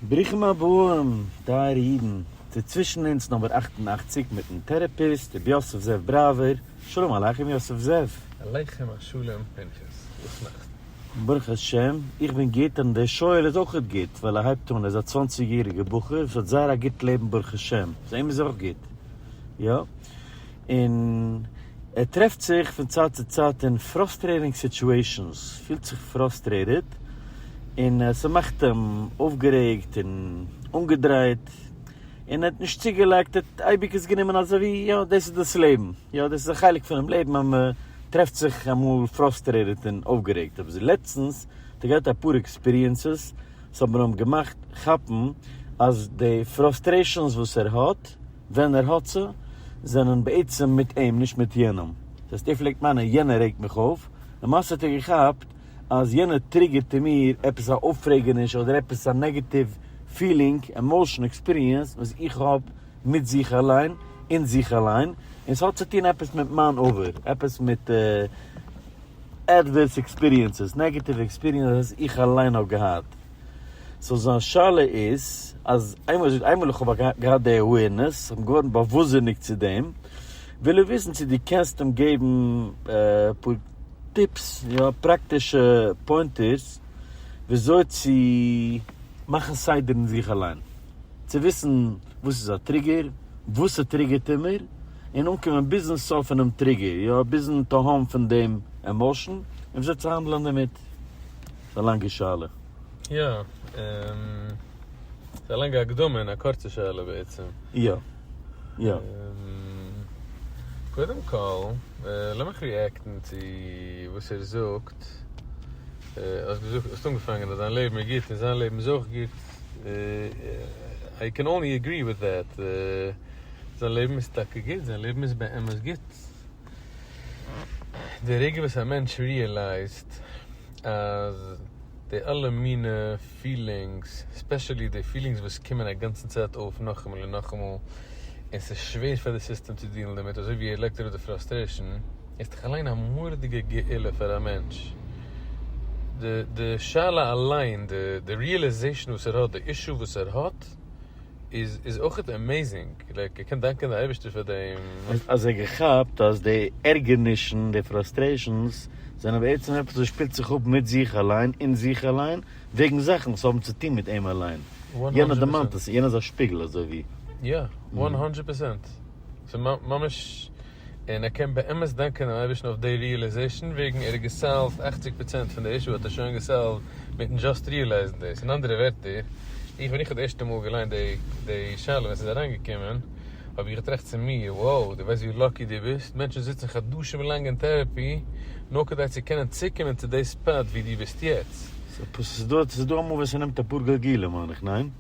ברוכים הבאים, טייערע אידן, צו צווישן אונז נומער אַכט און אַכציק מיטן טערעפיסט רבי יוסף זאב בראווער, שלום עליכם יוסף זאב. עליכם השלום פנחס, וואס נאך? ברוך השם, איך בין גוט און דער שואל איז אויך גוט, ווייל ער הייבט אן, ער איז א צוואנציג יעריגער בחור וואס האט זייער א גוט לעבן ברוך השם, סאו אים איז אויך גוט, יא. און ער טרעפט זיך פון צייט צו צייט אין פראסטרעטינג סיטועשאנס, פילט זיך פראסטרעטעד און ס'מאכט אים אויפגערעגט און אנגעדרייט און ער האט נישט צוגעלייגט, ער האט אייביג עס גענומען אזויווי יא דאס איז דאס לעבן, יא דאס איז א חלק פונעם לעבן אז מען טרעפט זיך אמאל פראסטרעטעד און אויפגערעגט, אבער לעצטנס האט ער געהאט אפאר עקספיריענסעס וואס האבן אים געמאכט כאפן אז די פראסטרעישאנס וואס ער האט. ווען ער האט זיי, זענען בעצם מיט אים, נישט מיט יענעם. דאס הייסט, ער פלעגט מיינען יענער רעגט מיך אויף, למעשה האט ער געכאפט אז יענער טריגערט אין מיר עפעס א אויפרעגעניש אדער עפעס א נעגעטיוו פילינג, עמאושן, עקספיריענס וואס איך האב מיט זיך אליין, אין זיך אליין, און ס'האט צו טון עפעס מיט מיין עבר, עפעס מיט עדווערס עקספיריענסעס, נעגעטיוו עקספיריענסעס איך אליין האב געהאט. סאו זיין שאלה איז אז איינמאל ער זאגט איינמאל איך האב געהאט די עווערנעס, איך בין געווארן באוואוסזיניגט צו דעם, וויל ער וויסן צו דו קענסט אים געבן אפאר טיפס, יא, פראקטישע פוינטערס וויאזוי צו מאכן סדר אין זיך אליין, צו וויסן וואס איז א טריגער, וואס ס'טריגערט אים מער, און אנקומען ביזן סוף פונעם טריגער, יא, ביזן תהום פון דעם עמאושן, און וויאזוי צו האנדלען דערמיט. ס'איז א לאנגע שאלה. יא, ס'איז א לאנגע הקדמה און א קורצע שאלה בעצם. יא, יא. קודם כל, לאמיך ריעקטן צו וואס ער זאגט. האסט געזאגט, האסט אנגעפאנגען אז דיין לעבן איז גוט און זיין לעבן איז אויך גוט. איי קען אנלי עגרי וויט דעט. זיין לעבן איז טאקע גוט, זיין לעבן איז באמת גוט. די רגע וואס א מענטש ריעלייזט אז די אלע מינע פילינגס, ספעשעלי די פילינגס וואס קומען א גאנצן צייט אויף נאכאמאל און נאכאמאל, און ס'איז שווער פאר די סיסטעם צו דילן דערמיט, אזוי ווי ער לייגט אראפ די פראסטרעישאן, איז דאך אליין א מורא'דיגע גאולה פאר א מענטש. די שאלה אליין, די ריעלעזעישאן וואס ער האט, די אישו וואס ער האט, איז אויך עמעיזינג, לייק איך קען דאנקען די אייבערשטער פאר דעם. אז ער געכאפט אז די ערגערנישן, די פראסטרעישאנס, זענען בעצם עפעס וואס שפילט זיך אפ מיט זיך אליין, אין זיך אליין, וועגן זאכן וואס האבן צו טון מיט אים אליין. יענער דערמאנט עס, יענער איז א שפיגל אזוי ווי. יא, וואן האנדרעט פערסענט. ס'איז ממש און ער קען באמת דאנקען דעם אייבערשטן אויף די ריעלעזעשאן וועגן ער האט געסאלווד אַכציק פראצענט פון די אישו האט ער שוין געסאלווד מיטן דזשאסט ריעלייזן דאס, אין אנדערע ווערטער איך ווען איך האב די ערשטע מאל געליינט די די שאלה ווען ס'איז אריינגעקומען האב איך געטראכט צו מיר wow דו ווייסט ווי לאקי דו ביסט מענטשן זיצן חדשים לאנג אין טערעפי נאר כדי צו קענען צוקומען צו די ספאט ווי דו ביסט יעצט. ס'איז דא, ס'איז דא אמאל ווען ס'נעמט אפאר גלגולים מיין איך, ניין?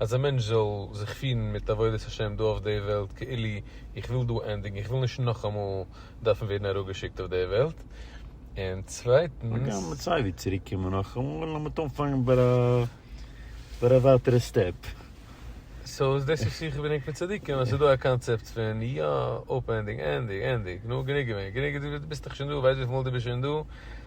אז א מענטש זאל זיך פירן מיט עבודת השם דא אויף די וועלט כאילו איך וויל דא ענדיגן איך וויל נישט נאכאמאל דארפן ווערן אראפגעשיקט אויף די וועלט, און צווייטנס. הגם סייווי צוריק קומען נאכאמאל אז מ'האט אנגעפאנגן ביי א ביי א ווייטערע סטעפ. סאו איז דאס וואס איך האב געדענקט מיט צדיקים אז ס'איז דא א קאנצעפט פון יא אפענדינג ענדיג ענדיג נו גענוג געווען גענוג ביסט דאך שוין דא ווער ווייסט וויפיל מאל דו ביסט שוין דא,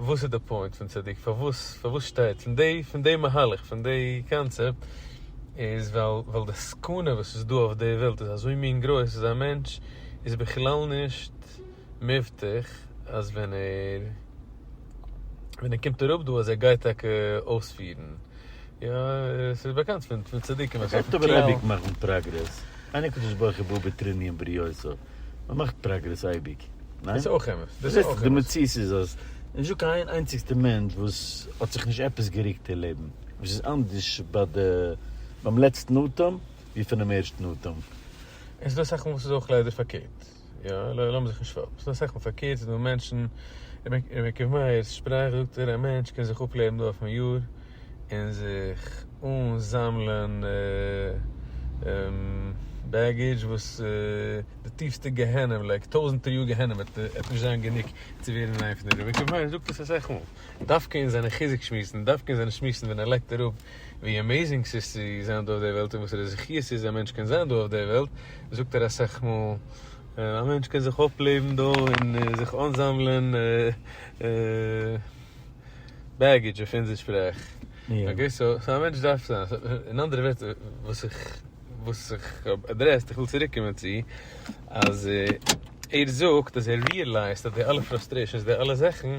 וואס איז די פוינט פון צדיק פארוואס פארוואס שטייט פון די פון די מהלך פון די קאנצעפט איז ווייל ווייל די סכנה וואס איז דא אויף די וועלט איז אזוי מין גרויס אז א מענטש איז בכלל נישט מבטח אז ווען ער ווען ער קומט אראפ דא אז ער גייט טאקע אויספירן יא, עס איז באקאנט פון צדיקים אז עס וועט אייביג מאכן פראגרעס, אן הקדוש ברוך הוא בא בתרני עם בריותו, מען מאכט פראגרעס אייביג, ניין? דאס איז אויך אמת, דאס איז אויך אמת. די מציאות איז אז נישטא קיין איין איינציגסטע מענטש וואס האט זיך נישט עפעס געריקט אין לעבן, וואס איז אנדערש ביי די ביים לעצטן אטעם ווי פונעם ערשטן אטעם. און ס'דא אסאך מאל וואס איז אויך ליידער פארקערט. פארקערט, יא, לאמיר זיך נישט פארעקטן, ס'דא אסאך מאל פארקערט, ס'דא מענטשן, ר' יעקב מאיר'ס שפראך זאגט ער, א מענטש קען זיך אפלעבן דא אויפן יאר און זיך אנזאמלען בעגעדזש וואס די טיפסטע גיהנום, לייק טויזענטער יאר גיהנום וועט נישט זיין גענוג צו ווערן אין איין פון די, ר' יעקב מאיר זאגט עס אסאך מאל, דווקא אין זיינע חיזוק שמועסן, דווקא אין זיינע שמועסן ווען ער לייגט אראפ ווי עמעזינג ס'איז צו זיין דא אויף די וועלט און וואסערע זכיות ס'איז א מענטש קען זיין דא אויף די וועלט, זאגט ער אסאך מאל, א מענטש קען זיך אפלעבן דא און זיך אנזאמלען בעגעדזש אויף אונזער שפראך, אקעי סאו א מענטש דארף זיין, אין אנדערע ווערטער וואס איך וואס איך האב אדרעסט, איך וויל צוריק קומען צו אז ער זאגט אז ער ריעלייזט אז די אלע פראסטרעישאנס די אלע זאכן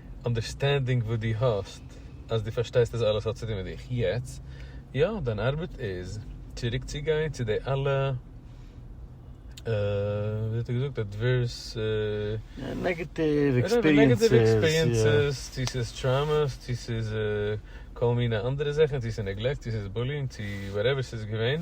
אנדערסטענדינג וואס דו האסט אז דו פארשטייסט אז אלעס האט צו טון מיט דיך יעצט, יא דיין ארבעט איז צוריק צו גיין צו די אלע ווי האט ער געזאגט עדווערס, נעגעטיוו עקספיריענסעס, צו ס'איז טראומעס, צו ס'איז כל מיני אנדערע זאכן, צו ס'איז נעגלעקט, צו ס'איז בולינג, צו וואטעווער ס'איז געווען,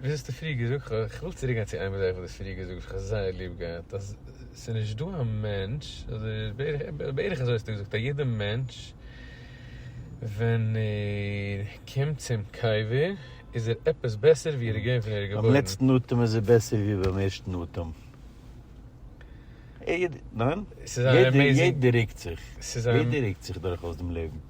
וואס האסטו פריער געזאגט? איך וויל צוריק גיין צו איין זאך וואס האסט פריער געזאגט וואס איך האב זייער ליב געהאט אז ס'איז נישט דא א מענטש אדער בערך אזוי האסטו געזאגט א יעדע מענטש ווען ער קומט צום קבר איז ער עפעס בעסער ווי ער איז געווען פון ער איז געבוירן. ביים לעצטן אטעם איז ער בעסער ווי ביים ערשטן אטעם. יעדער רוקט זיך. יעדער רוקט זיך דורכאויס דעם לעבן.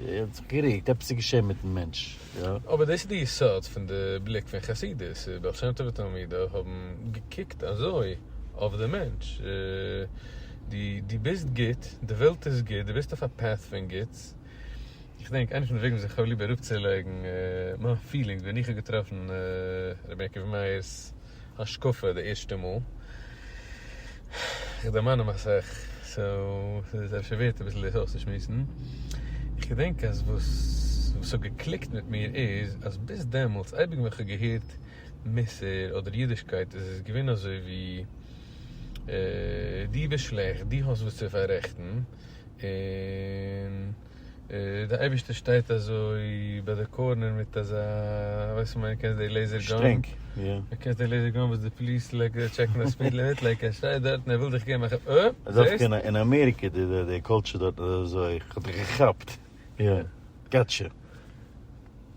ער האט זיך געריקט, עפעס איז געשען מיטן מענטש, יא. אבער דאס איז די יסוד פון די בליק פון חסידות, בעל שם טוב ותלמידיו האבן געקוקט אזוי אויף די מענטש, דו ביסט גוט, די וועלט איז גוט, דו ביסט אויף א path פון גוטס, איך דענק איינע פון די וועגן וואס איך האב ליב אראפצולייגן מיין פילינגס ווען איך האב געטראפן ר' יעקב מאיר'ס. השקפה די ערשטע מאל, איך דערמאן מיר אסאך, סאו ס'איז אפשר ווערט אביסל דאס אויסצושמועסן, איך געדענק אז וואס וואס האט געקליקט מיט מיר איז אז ביז דעמאלטס אייביג ווען כ'האב געהערט מוסר אדער אידישקייט איז עס געווען אזוי ווי דו ביסט שלעכט, דו האסט וואס צו פאררעכטן, און. די אייבישטער שטייט אזוי ביי די קארנער מיט אזא ווייסט וואס מיין קענסט די לעיזער גאן שטרענג יא קענסט די לעיזער גאן וואס די פליס לייק טשעקן די ספיד לימיט לייק ער שטייט דארט און ער וויל דיך געבן א כאפ אה זעסט? אין אמעריקע די די די קולטשער דארטן איז אזוי כ'האב דיך געכאפט יא גאטשע.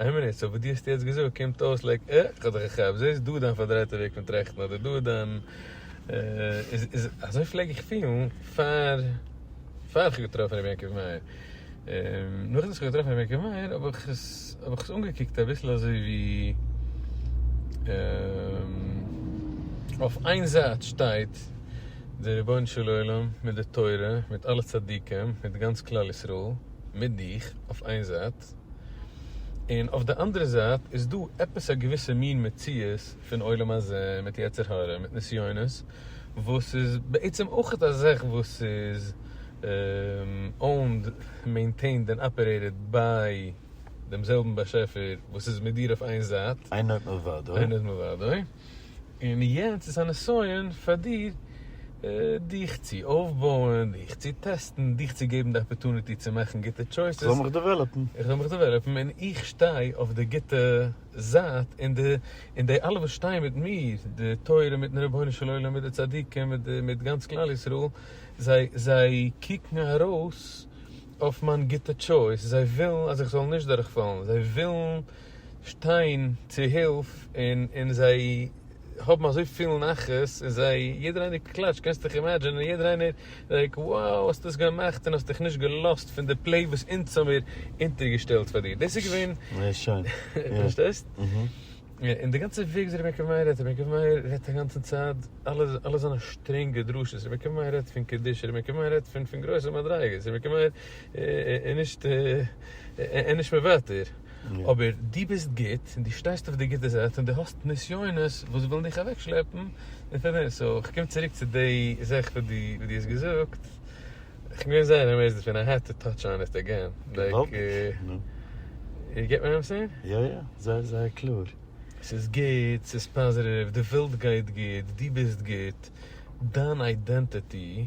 איין מינוט, סאו וואס דו האסט יעצט געזאגט קומט אויס לייק א, איך האב דיך געכאפט, דאס איז דא דיין פארדרייטע וועג פון טראכטן אדער דא דיין איז איז אזוי פלעג איך פילן פאר פאר איך האב געטראפן רבי יעקב מאיר, און נאכדעם וואס איך האב געטראפן רבי יעקב מאיר האב איך עס האב איך עס אנגעקוקט אביסל אזוי ווי אויף איין זייט שטייט דער רבונו של עולם מיט די תורה מיט אלע צדיקים מיט גאנץ כלל ישראל מיט דיך אויף איין זייט. אמת. און אויף די אנדערע זייט איז דא עפעס א געוויסע מין מציאות פון עולם הזה מיט יצר הרע מיט נסיונות וואס איז בעצם אויך א זאך וואס איז אוינד, מעינטעינד און אפערעיטעד ביי דעם זעלבן באשעפער וואס איז מיט דיר אויף איין זייט. אין עוד מלבדו. אין עוד מלבדו. און יענץ איז א נסיון פאר דיר דיך צו אויפבויען, דיך צו טעסטן, דיך צו געבן די אפערטוניטי צו מאכן גוטע טשויסעס. איך זאל מיך דעוועלאפן. איך זאל מיך דעוועלאפן און איך שטיי אויף די גוטע זייט און די און די אלע וואס שטייען מיט מיר, די תורה מיטן רבונו של עולם מיט די צדיקים מיט די מיט גאנץ כלל ישראל, זיי זיי קוקן ארויס אויף מיין גוטע טשויס, זיי ווילן אז איך זאל נישט דורכפאלן, זיי ווילן. שטיין צו הילף און און זיי האבן אזוי פיל נחת און זיי יעדער איינער קלאטשט קענסט דיך אימעדזשענען און יעדער איינער לייק wow האסט עס געמאכט און האסט דיך נישט געלאזט פון די פלעי וואס אונז האמיר אונטער געשטעלט פאר דיר דאס איז געווען זייער שיין יא פארשטייסט און די גאנצע וועג וואס ר' יעקב מאיר רעדט ר' יעקב מאיר רעדט א גאנצע צייט אלע אלע זיינע שטרענגע דרשות ר' יעקב מאיר רעדט פון קדושה ר' יעקב מאיר רעדט פון פון גרויסע מדריגות ר' יעקב מאיר איז נישט ער איז נישט מוותר. אבער דו ביסט גוט און דו שטייסט אויף די גוטע זייט און דו האסט נסיונות וואס ווילן דיך אוועקשלעפן פון דעם, סאו איך קום צוריק צו די זאך וואס דו וואס דו האסט געזאגט, איך בין געווען זייער אמעיזד דערפון, איי העד טו טאטש אן איט עגעין, לייק, יו געט וואט איים סעינג? יא יא, זייער זייער קלאר. ס'איז גוט, ס'איז פאזיטיוו, די וועלט גייט גוט, דו ביסט גוט, דיין אידענטיטי.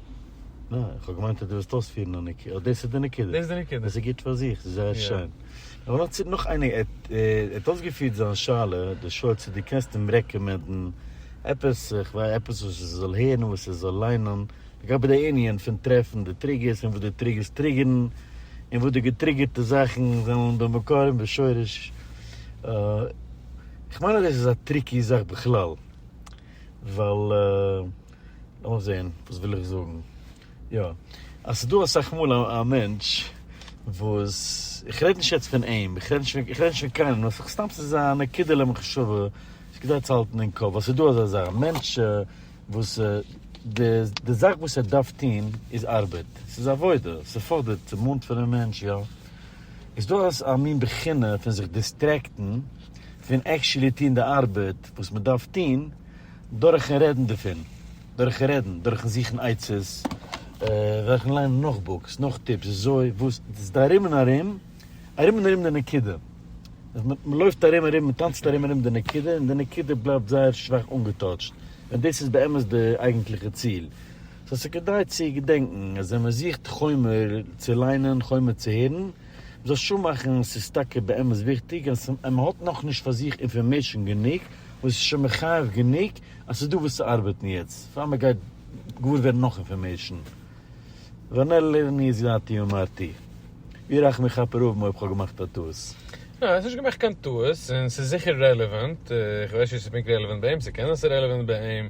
אה, איך האב געמיינט אז דו ווילסט אויספירן א נקודה. אט דאס איז די נקודה. דאס איז די נקודה. דאס איז גוט פאר זיך, ס'איז זייער שיין. אבער נאך צו נאך איינע, ער האט אויסגעפירט זיין שאלה, די שואל צו דו קענסט אים רעקאמענדן עפעס, איך וויי, עפעס וואס ער זאל הערן, וואס ער זאל ליינען, לגבי די ענין פון טרעפן די טריגערס, און וואס די טריגערס טריגערן, און וואס די געטריגערטע זאכן זענען במקור און בשורש. איך מיין אז דאס איז א טריקי זאך בכלל, ווייל. לאמיר זעהן וואס וויל איך זאגן. יא. אז ס'דא אסאך מאל א מענטש וואס, איך רעד נישט יעצט פון אים, איך רעד נישט פון, איך רעד נישט פון קיינעם, נאר סך סתם ס'איז א נקודה'לע מחשבה וואס כדאי צו האלטן אין קאפ, אז ס'דא אזא זאך, מענטש וואס די זאך וואס ער דארף טוהן איז ארבעט, ס'איז עבודה, ס'פאדערט, ס'מאנט פונעם מענטש, יא. איז דא א מין בחינה פון זיך דיסטרעקטן פון עקטשולי טוהן די ארבעט וואס מ'דארף טוהן, דורכן רעדן דערפון, דורכן רעדן, דורכן זוכן עצות, דורכן ליינען נאך בוקס, נאך טיפס, וויאזוי, וואס, דאס איז ארום און ארום, ארום און ארום די נקודה. מען לויפט ארום און ארום, מען טאנצט ארום און ארום די נקודה, און די נקודה בלייבט זייער שוואך אנגעטאטשט, ווען דאס איז באמת די אייגנטליכע ציל. סאו ס'איז כדאי צו געדענקן אז ווען מען זוכט חומר צו ליינען, חומר צו הערן, מ'זאל שול מאכן, ס'איז טאקע באמת וויכטיג אז מ'האט נאכנישט פאר זיך אינפארמעישאן גענוג וואס איז שוין מחייב גענוג אז ס'איז דא וואס צו ארבעטן יעצט פאר מ'גייט געוואר ווערן נאך אינפארמעישאן ונר לעיני זולתי אמרתי ווי רחמי יכפר אויב אויב כ'האב געמאכט א טעות. ניין, האסט נישט געמאכט קיין טעות, און ס'איז זיכער רעלעווענט, איך ווייס נישט צו ס'איז פונקט רעלעווענט ביי אים, ס'קען זיין ס'איז רעלעווענט ביי אים,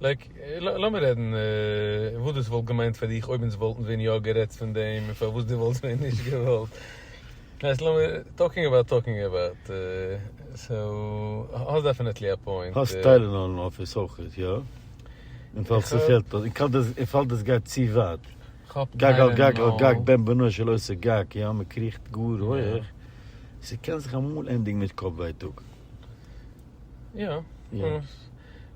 לייק, לאמיר רעדן וואס דאס וואלט געמיינט פאר דיך אויב אונז וואלטן ווען יא גערעדט פון דעם און פארוואס דו וואלסט ווען נישט געוואלט. ווייסט לאמיר, טאלקינג אבאוט טאלקינג אבאוט, סאו האסט דעפענעטלי א פוינט. האסט טיילענאל אין אפיס אויך, יא? אין פאל ס'פעלט, אין פאל דאס גייט צו ווייט. גג על גג על גג בן בנו של עושה גג, יא? מ'קריכט גאר הויעך, ס'קען זיך אמאל ענדיגן מיט קאפ ווייטאג. יא,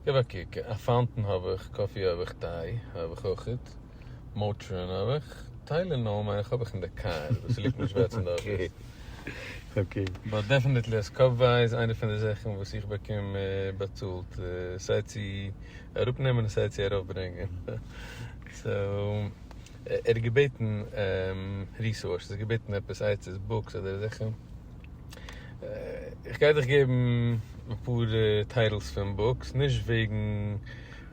גיב א קוק, א פאונטען האב איך, קאפי האב איך, טיי האב איך אויכעט, מאטרין האב איך, טיילענאל מיין איך האב איך אין די קאר, וואס ס'ליגט נישט ווערט צום דאזיגן. אקעי. באט דעפענעטלי אז קאפוויי איז איינע פון די זאכן וואס איך באקום באצאלט סיי צו אראפנעמען און סיי צו ארויפברענגען, סאו ער האט געבעטן ריסארסעס, ער האט געבעטן עפעס עצות, בוקס אדער זאכן. איך גיי דיך געבן אפאר טייטלס פון בוקס, נישט וועגן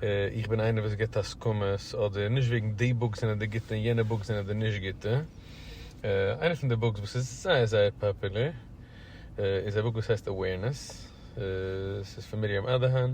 איך בין איינער וואס גיבט הסכמות, אדער נישט וועגן די בוקס זענען די גוטע און יענע בוקס זענען די נישט גוטע. איינע פון די בוקס וואס איז זייער זייער פאפולער איז א בוק וואס הייסט Awareness, ס'איז פון מרים אדאהאן,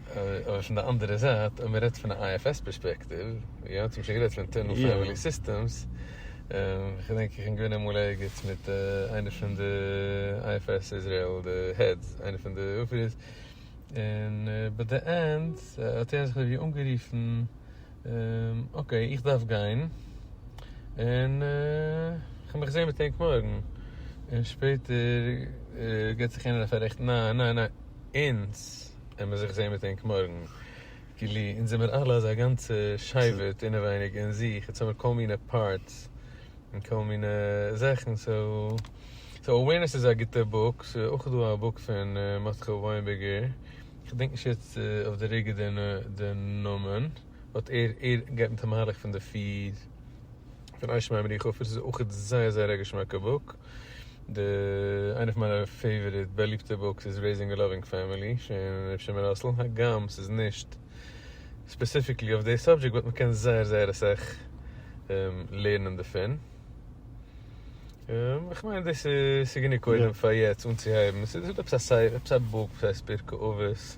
אבער פון די אנדערע זייט אויב מ'רעדט פון א IFS פערספעקטיוו, יא, אונז האבן שוין גערעדט פון אינטערנעל פעמילי סיסטעמס, כ'דענק איך בין געווען אמאל ערגעץ מיט איינער פון די IFS איזרעיל די העדס, איינער פון די אפירערס, און ביי די ענד האט ער זיך אזוי ווי אנגערופן, אקעי איך דארף גיין, און כ'וועל מיך זעהן מיט ענק מארגן, און שפעטער געט זיך יענער א פארעכט, ניין ניין ניין, אונז. העמער זיך זעהן מיט ענק מארגן. כאילו אונז זעמער אלע אזא גאנצע שייווערט אינעווייניג אין זיך, אונז האמער כל מיני פארטס און כל מיני זאכן, סאו סאו אווערנעס איז א גוטע בוק, ס'איז אויך דא א בוק פון מרדכי וויינבערגער, כ'דענק נישט יעצט אויף די רגע די נאמען, באט ער ער גייט מיט א מהלך פון די פיר. פון אייזשע מיין בריך אפיס איז אויך זייער זייער א געשמאקע בוק. די איינע פון מיינע פעיוואריט באליבטע בוקס איז רעיזינג א לאווינג פעמילי פון ר' שמעון ראסל, הגם ס'איז נישט ספעסיפיקלי אויף די סאבדזשעקט באט מ'קען זייער זייער אסאך לערנען דערפון. איך מיין דאס איז גענוג קודם פאר יעצט אנצוהייבן. ס'איז עפעס א בוק פאר ספיר כאוות.